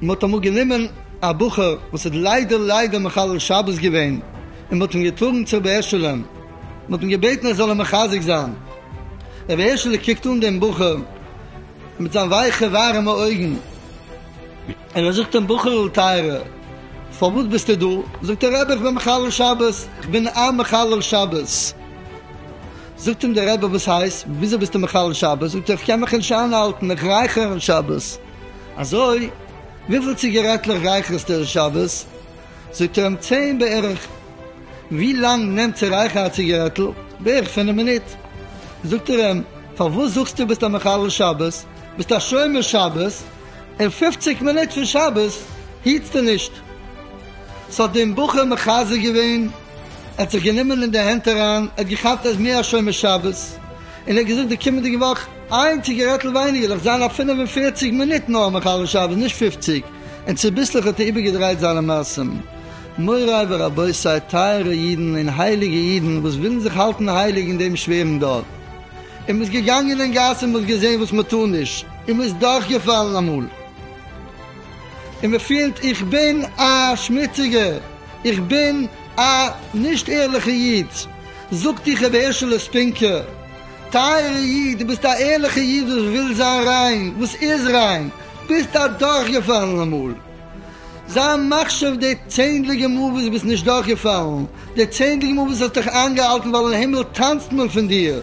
מען האט אמאל גענומען א בחור וואס האט ליידער ליידער מחלל שבת געווען, און מען האט אים געטראגן צו רבי הערשעלע, מען האט אים געבעטן ער זאל אים מחזק זיין, רבי הערשעלע קוקט אן דעם בחור מיט זיין ווייכע ווארעמע אויגן, און ער זאגט אים, בחור'ל טייערער, פארוואס ביסטו דא? זאגט דער רבי, איך בין מחלל שבת, איך בין א מחלל שבת. זאגט אים דער רבי, וואס הייסט? וויאזוי ביסטו מחלל שבת? זאגט ער, איך קען מיך נישט איינהאלטן, איך רייכער אין שבת. אזוי? וויפיל ציגערעטלעך רייכערסטו אין שבת? זאגט ער אים, צען בערך. ווי לאנג נעמט צו רייכערן א ציגערעטל? בערך פינף מינוט. זאגט ער אים, פארוואס זאגסטו ביסט א מחלל שבת? ביסט א שומר שבת? און פופציג מינוט פון שבת היטסטו נישט. ס'האט דעם בחור מחזק געווען, ער האט זיך גענומען אין די הענט אריין, ער האט געכאפט אז מי השומר שבת, און ער האט געזאגט די קומענדיגע וואך איין ציגערעטל ווייניגער דאך זיין א פֿינף און פֿערציק מינוט נאר מחלל שבת נישט פופציג, און צוביסלעך האט ער איבערגעדרייט זיינע מעשים. מוריי ורבותי טייערע אידן און הייליגע אידן וואס ווילן זיך האלטן הייליג אין דעם שווערן דור, און מ'איז געגאנגען אין גאס און מ'האט געזען וואס מ'טאר נישט, און מען איז דורכגעפאלן אמאל, און מען פילט איך בין א שמוציגער, איך בין א נישט ערליכע איד, זאגט איך רבי הערשעלע ספינקער, טייערע איד, דו ביסט א ערליכע איד וואס וויל זיין ריין, וואס איז ריין, ביסט א דורכגעפאלן אמאל, זיי מחשיב די צענדליגע מאל וואס ביסט נישט דורכגעפאלן, די צענדליגע מאל וואס האסט דיך איינגעהאלטן ווייל אין הימל טאנצט מען פון דיר,